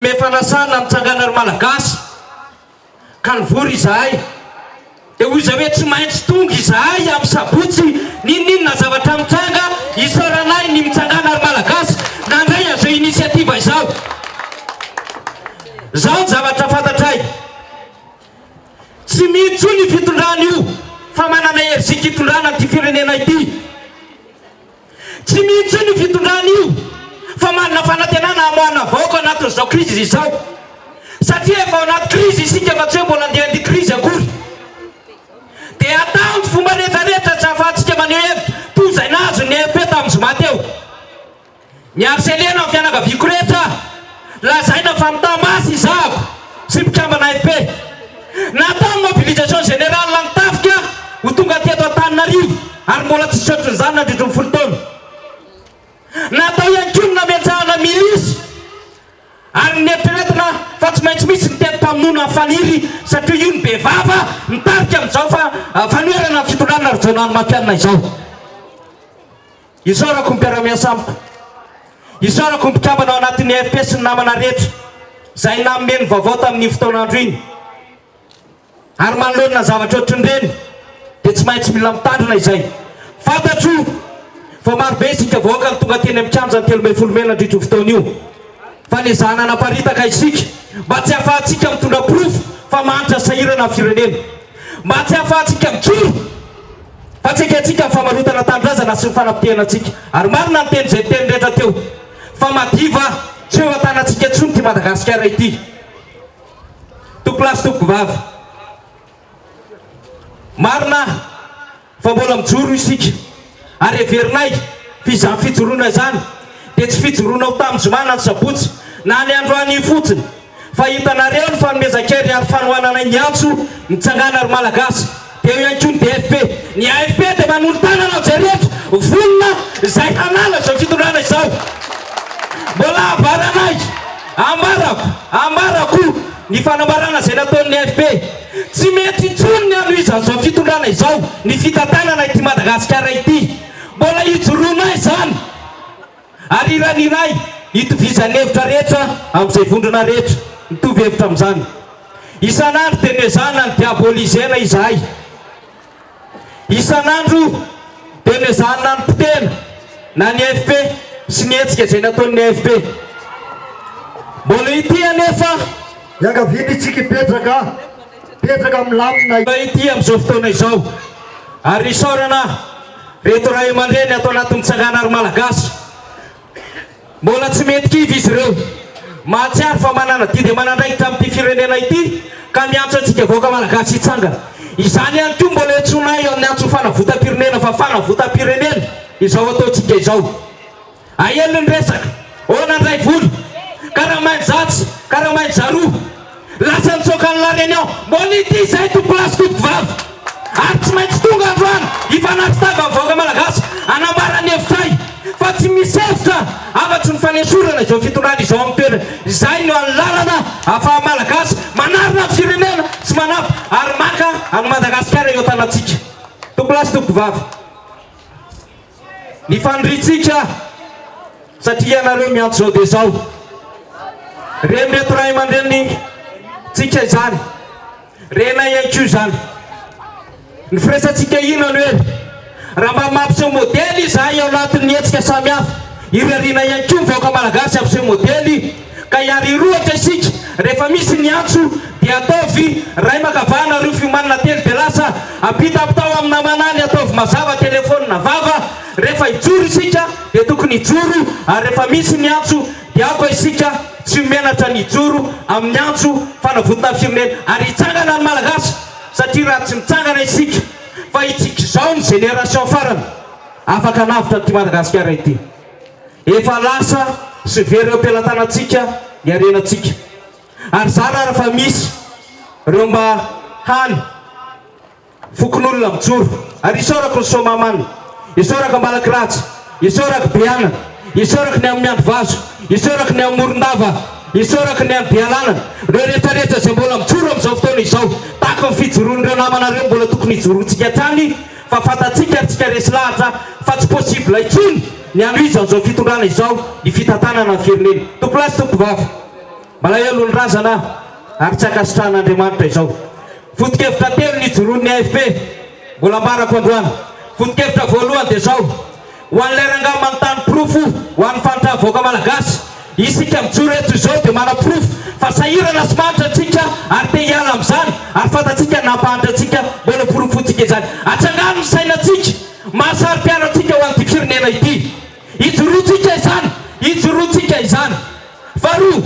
Efa nasana mitsangana ry Malagasy ka nivory izahay dia hoy izay hoe tsy maintsy tonga izahay amin'ny sabotsy n'inon'inona zavatra mitranga isaorana ahy ny mitsangana ry Malagasy nandray an'izao initiative izao. Izao ny zavatra fantatray tsy mino intsony io fitondrana io fa manana hery zika hitondrana an'ity firenena ity. Tsy mino intsony io fitondrana io fa manana fanantenana hamoahana vahoaka anatin'izao crise izao satria efa ao anaty crise isika fa tsy hoe mbola andeha handia crise akory dia atao ny fomba rehetra rehetra tsy ahafahantsika maneho hevitra toy izay nahazo ny EFP tamin'ny zoma teo. Miharceler-na ny fianakaviako rehetra aho. Lazaina fa nitamasy i Zavo sy mpikambana AFP. Natao ny mobilisation générale ny tafika ho tonga teto Antananarivo ary mbola tsy nisaotra izany nandritry ny folo taona. Natao ihany koa ny namentsahana milisy ary nieritreretina fa tsy maintsy misy ny teti-pamonoana faniry satria io no be vava mitarika amin'izao fanoherana ny fitondrana Rajaonarimampianina izao. Isaorako ny mpiara-miasa amiko. Isaorako ny mpikambana ao anatin'ny AFP sy ny namana rehetra izay nanome ny vaovao tamin'iny fotoan'andro iny. Ary manoloana ny zavatra ohatrin'ireny dia tsy maintsy mila mitandrina izay. Fantatro fa marobe isika vahoaka no tonga teny amin'ny kianjan'ny telo ambin'ny folo mey nandritra io fotoana io fa niezahana hanaparitaka isika mba tsy hahafahantsika mitondra porofo fa mahantra sahirana ny firenena, mba tsy hahafahantsika mikiry. fa tsy ekentsika ny famarotana tanindrazana sy ny fanapotehana antsika ary marina ny teny izay niteny rehetra teo fa madio va tsy eo an-tanantsika intsony ity Madagasikara ity tompolahy sy tompovavy marina fa mbola mijoro isika ary heverinay fa izany fijoroana izany dia tsy fijoroana ho tamin'ny zoma na ny sabotsy na ny androany fotsiny Fa hitanareo ny fanomezan-kery ny aro fanohananay miantso ny tsangana ry Malagasy dia eo ihany koa ny DFP. Ny AFP dia manolo-tàna anao jereko vonona izay hanala izao fitondrana izao. Mbola ambaranay, ambarako, ambarako ny fanambarana izay nataon'ny AFP. Tsy mety intsony ny hanohizan'izao fitondrana izao ny fitantanana ity Madagasikara ity. Mbola hijoroanay izany. Ary iray ny iray itovizan'ny hevitra rehetra amin'izay vondrona rehetra mitovy hevitra amin'izany. Isan'andro dia noezahana ny diabolizena izahay. Isan'andro dia noezahany nanipotehina na ny AFP sy ny hetsika izay nataon'ny AFP. Mbola ity anefa. Iangaviany isika hipetraka, hipetraka milamina. Mbola ity amin'izao fotoana izao. Ary isaorana. Reto ray aman-dreny ato anatin'ny tsangana ry Malagasy, mbola tsy mety kivy izy ireo. Mahatsiaro fa manana didy aman'andraikitra amin'ity firenena ity ka miantso antsika vahoaka Malagasy hitsangana. Izany ihany koa mbola iantsoana ahy amin'ny antso fanavotam-pirenena fa fanavotam-pirenena izao ataontsika izao. Ahelony resaka, hoana ndray vola, karamainy zato, karamainy zaroa, lasa nitsoaka ny laren'ny ao, mbola ity izay to place koto vava, ary tsy maintsy tonga androany hifanatri tava ny vahoaka malagasy hanambara ny hevitray fa tsy misy hevitra afatry ny fanesorana izao fitondrana izao amin'ny toerany, izay no any lalana afaha malagasy manarina ny firenena sy manampy ary maka an'i madagasikara eo tanatsika to place tompoko vava. ny faniriantsika satria ianareo miantso izao dia izao ren'ireto ray aman-drenintsika izany renay ihany koa izany ny firesantsika ino aloha e raha mba mampiseho modely izahay ao anatin'ny hetsika samihafa irariana ihany koa ny vahoaka malagasy hampiseho modely ka hiarirohatra isika rehefa misy ny antso dia ataovy ray makavahana ry fiomanana telo dia lasa ampita ampitao amin'ny namana ny ataovy mazava telefony na vava rehefa hijoro isika dia tokony hijoro ary rehefa misy ny antso dia aoka isika tsy menatra ny hijoro amin'ny antso fanavotona ny firenena ary hitsangana ny malagasy satria raha tsy mitsangana isika fa hitsika izao ny génération farany afaka hanavotra an'ity madagasikara ity Efa lasa sy very eo am-pelatanantsika ny harenantsika. Ary zara ary fa misy ireo mba hany fokonolona mijoro. Ary isaorako ny Soamahamanina, isaorako Ambalakiratsy, isaorako Beanana, isaorako ny any Miandrivazo, isaorako ny any Morondava, isaorako ny any Bealanana, ireo rehetrarehetra izay mbola mijoro amin'izao fotoana izao, tahaka ny fijoroan'ireo namanareo mbola tokony hijoroantsika hatrany, Fa fantatsika ry tsika resy lahatra fa tsy possible intsony ny hanohizan izao fitondrana izao ny fitantanana ny firenena. Tompo lahy sy tompo vava. Malahelo ny razana ary tsy ankasitrahan Andriamanitra izao. Foto-kevitra telo nijoroan'ny AFP, mbola ambarako androany. Foto-kevitra voalohany dia izao. Ho an'ilay rangahy manontany porofo ho an'ny faritrà vahoaka Malagasy, isika mijoro eto izao dia manaporofo fa sahirana sy mahantra antsika ary te hiala amin'izany ary fantatsika ny nampahantra antsika mba noporofointsika izany. Atsangano ny sainantsika maha saro-piaro antsika ho an'ity firenena ity. Ijoroantsika izany, ijoroantsika izany. Faharoa,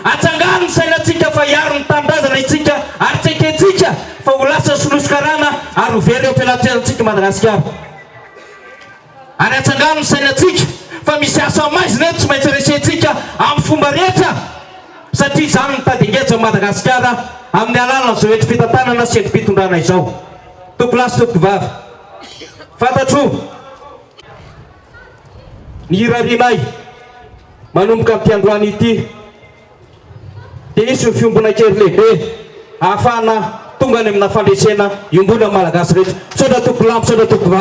atsangano ny sainantsika fa hiaro ny tanindrazana isika ary tsy ekentsika fa ho lasa solosy karana ary ho very eo am-pelaterantsika i Madagasikara. Ary atsangano ny sainantsika fa misy asa maizina eto tsy maintsy resentsika amin'ny fomba rehetra satria izany no mitady engejy an'i Madagasikara amin'ny alalan'izao hetry fitantanana sy hetrim-pitondrana izao. Tompolahy sy tompovavy, fantatro ny hirarianay manomboka amin'ity androany ity dia hisy ny fiombonan-kery lehibe ahafahana tonga any amina fandresena iombonan'ny Malagasy rehetra. Misaotra tompolahy, misaotra tompovavy.